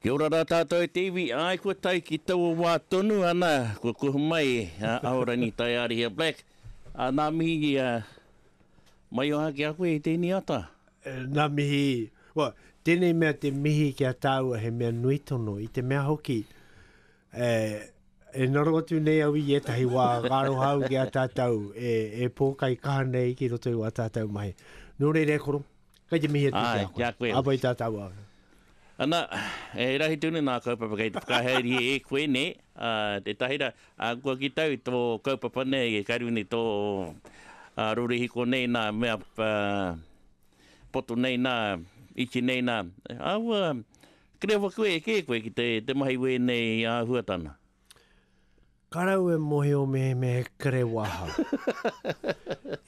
Kia ora rā tātou e te iwi, āe kua tae ki taua wā tonu ana kua kuhu mai a Ahorangi Taiārihia Black, ā, nā mihi ki a Maioha ki a koe i te iniata. Ngā mihi, well, tēnei mea te mihi ki a tāua he mea nui tono, i te mea hoki, e ngaro atu nei au i ētahi wā ka aroha au ki a tātou e pōkaikaha nei ki roto i wā tātou mahi. Nō reira e koro, Kei te mihi atu ki a koe. Āe, ki a koe hoki. Āwhai tā tāua ake. Ana, he rahi tonu nā kaupapa kei te whakahaere e koe nei, ā, tētahi rā, ā, kua kitou tō kaupapa nei e karu nei tō rorihiko nei nā mea poto nei nā, iti nei nā, āua kore rawa koe e kē koe ki te mahi wēnei āhuatana. Ka raua e mōhio me he mea he kore wahau.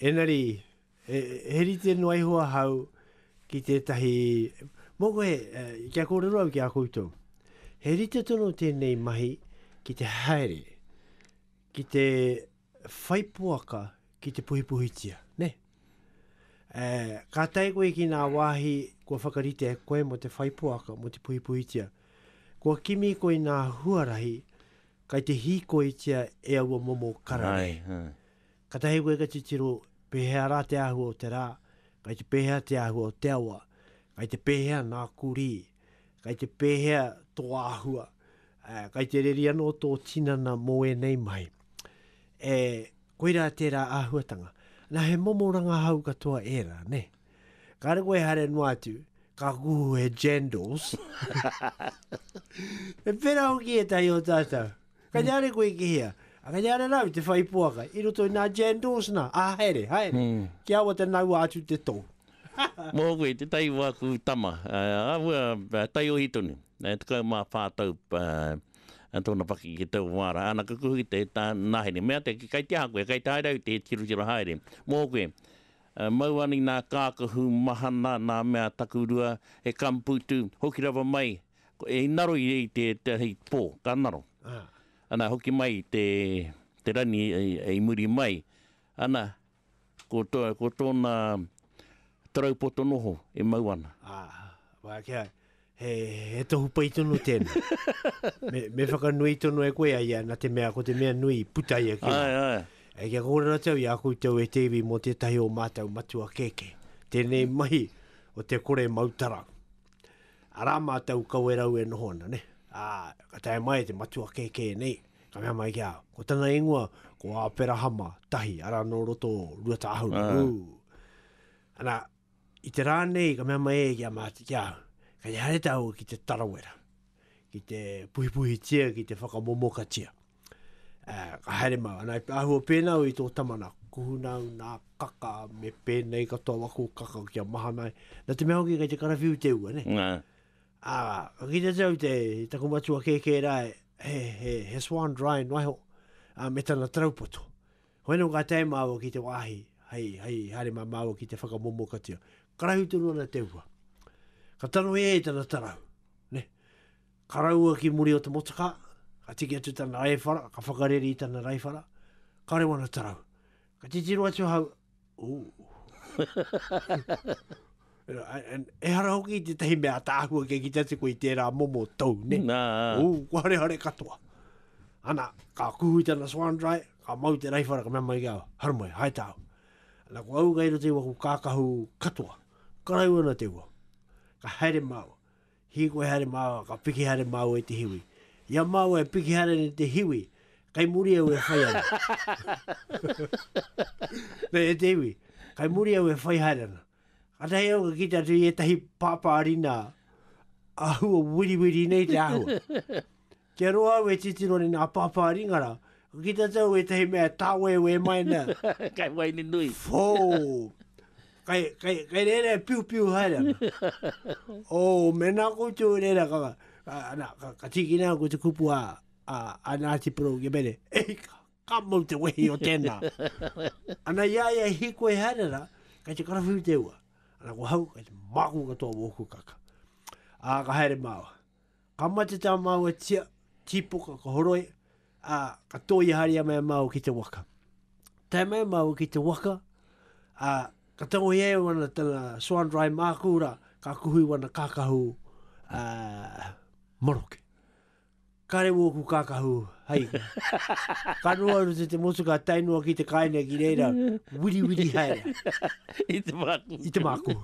Engari, He rite noa iho ahau ki tētahi, mō koe, kia kōrero au ki a koutou. He rite tonu tēnei mahi ki te haere, ki te whai poaka ki te puhipuhitia, ne? Ka tae koe ki ngā wāhi kua whakarite e koe mō te whai poaka, mō te puhipuhitia, kua kimi koe i ngā huarahi kai te hīkoitia e aua momo kararehe. Katahi koe ka titiro pehea ra te ahua o te ra, kai te pehea te ahua o te awa, kai te pehea na kuri, kai te pehea to ahua, kai te reri ano to tinana mo enei mahi. E, koira tera ahuatanga. Na he momo rangahau katoa era, ne? Kare koe haere noa atu, ka kuhu he jandals. e pera hoki etahi o tatou. Ka reare koe ki hea? Ka reare rau te whai poaka i roto i nā Jan Dawes nā, ā, haere, haere, kia awa te naua atu te tou. Mō koe, tētahi o āku tama, āhua taiohi tonu, e tekau mā whā tau tōna paki ki taua wā rā, ana ka kuhu ki te nahere, mea te, kei te aha koe, kei te haere au te tirotiro haere, mō koe, mau ani nā kākahu mahana, nā mea takurua, he kamputu, hoki rawa mai, I ngaro i te hei pō, ka ngaro. Ana, hoki mai i te rani i muri mai. Ana, ko tōna tarau poto noho e mau ana. Wai kē, he tohu pai tonu tēnā. Me whakanui tonu e koe a ia, nā te mea ko te mea nui i puta ia ki waho. E kia kōrero atu au i a koutou e te iwi mō tētahi o mātou matua kēkē, tēnei mahi o te kore mau tarau. Arā mātou Kawerau e noho ana, nē? Ā, ka tae mai e te matua kēkē nei, ka mea mai ki a au, Ko tana ingoa, ko Āperahama, tahi, arā nō roto o Ruatāhuna. Ū! Ana, i te rā nei, ka mea mai e ki a mātou, ki a au, Kei te haere tāua ki te tarawera, ki te puhipuhitia, ki te whakamomokatia. Uh, ka haere mau, anai ahua pēnā i tō tama nā kuhuna au nā kaka me pēnei katoa wako kaka ki a mahanai. Nā te mea hoki kei te karawhiu te ua, ne? Nā. Ā, ka kite te au te taku matua kēkē rā he, he, he swan dry no aho, a, me tana traupoto. Hoi nō ka tae māua ki te wāhi, hei, hei haere mā māua ki te whakamomokatia. Karahu tonu ana te ua. Ka taro e tana tarau, ne? Ka raua ki muri o te motoka, ka tiki atu tana aewhara, ka whakareri i tana raiwhara, kare wana tarau. Ka titiro atu ahau, ooh. Ehara hoki i tētahi mea ataahua kia kite atu koe i tērā momo tou, ne? Nā. Ooh, kua harehare katoa. Ana, ka kuhu i tana swan dry, ka mau te raiwhara, ka mea mai ki au, haramai, hai tāu. Ana, ko au kei roto i waku kākahu katoa, ka raua ana te ua, ka haere māua. Hīkoi haere māua, ka piki haere māua i te hiwi. I a māua e piki haere nei te hiwi, kei muri au e whai ana. Nei e te hiwi, kei muri au e whai haere ana. Katahi au ka kite atu i ētahi pāpārina āhua wiriwiri nei te āhua. Kia roa au e titiro nei nā Pāpā Ringara, ka kitea tau ētahi mea e tāwēwē mai ana. Kai waini nui. Whoo! Kai, kai, kai reira e piupiu haere ana. Oh, mena koutou e reira ka, ka, ana, ka, ka tīkina au ko te kupu a, a, a Ngāti Porou Gemene. Ei, ka, ka mau te wehi o tēnā. Ana i a ia e hīkoi haere ana, kai te karawhiu te ua. Ana ko hau, kai te māku katoa wōku kaka. Ā, ka haere māua. Ka mate tā māua tia, tīpoka, ka horoi, ā, ka tōia haere mai a māua ki te waka. Tae mai māua ki te waka, ā, ka tangohia e wana tana swan dry mākū rā, ka kuhu i wana kākahu ā, maroke. Kāre wōku kākahu, hai. Ka noho au rute te motu, ka tae noa ki te kāinga ki reira, wiriwiri haere. I te mākū. I te mākū.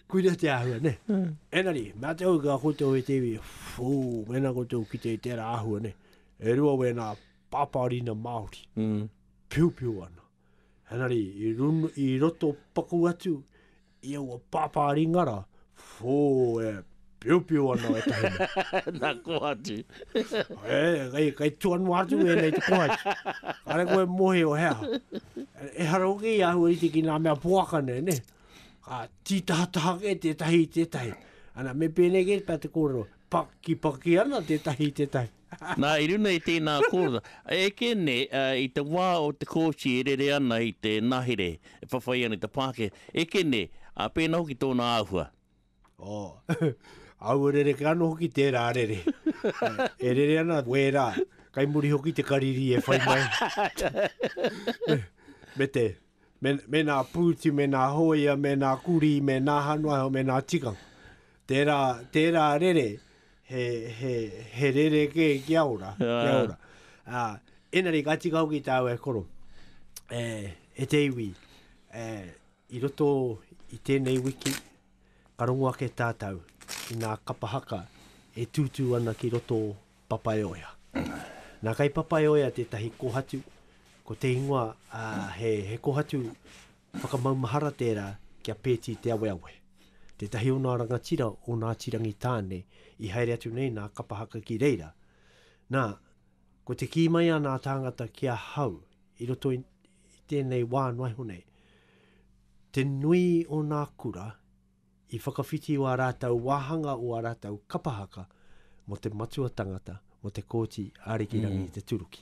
Kuia te āhua, ne? Mm. Enari, mea te hau ka koutou e te iwi, fū, mena koutou ki te tērā āhua, ne? E rua wēnā pāpārina Māori, mm. piupiu ana. Enari, i, run, i roto paku atu, i aua pāpārina ra, fū, e piupiu ana e tahina. Nā kohatu. e, kai, kai tuanu atu e nei te kohatu. Kare koe mohi o hea. E hara uke i ahu i te ki nā mea poaka nei, ne? Ka tītahataha kē tētahi i tētahi. Ana, me pēnei kē tā te kōrero, pakipaki ana tētahi i tētahi. Nā, i runga i tēnā kōrero, eke nei i te wā o te kōti e rere ana i te ngahere e whawhai ana i te Pākehā, eke nei, ā, pēnā hoki tōna āhua. Oh. Aua rereke ano hoki tera rere. e rere ana wera. Kai muri hoki te kariri e whai mai. me te, me, me nā pūti, me nā hoia, me nā kuri, me nā hanuaho, me nā tikang. Tērā, tērā rere, he, he, he rere kē ki a ora, ki a ora. Uh, enari, ka tika hoki tāu e koro, e, e te iwi, e, I roto i tēnei wiki, ka rongo ake tātou i ngā kapa haka e tūtū ana ki roto o Papaioea. Nā, kei Papaioea tētahi kōhatu, ko te ingoa, ā, he, he kōhatu whakamaumahara tērā ki a Pēti Te Aweawe, tētahi o nā rangatira o Ngāti Rangitāne i haere atu nei nā kapa haka ki reira. Nā, Ko te kī mai ana a tāngata ki ahau i roto i tēnei wā noaiho nei, te nui o nā kura i whakawhiti o a rātou wāhanga o a rātou kapa haka mo te matua tangata mo te Kōti Arikirangi i te Turuki.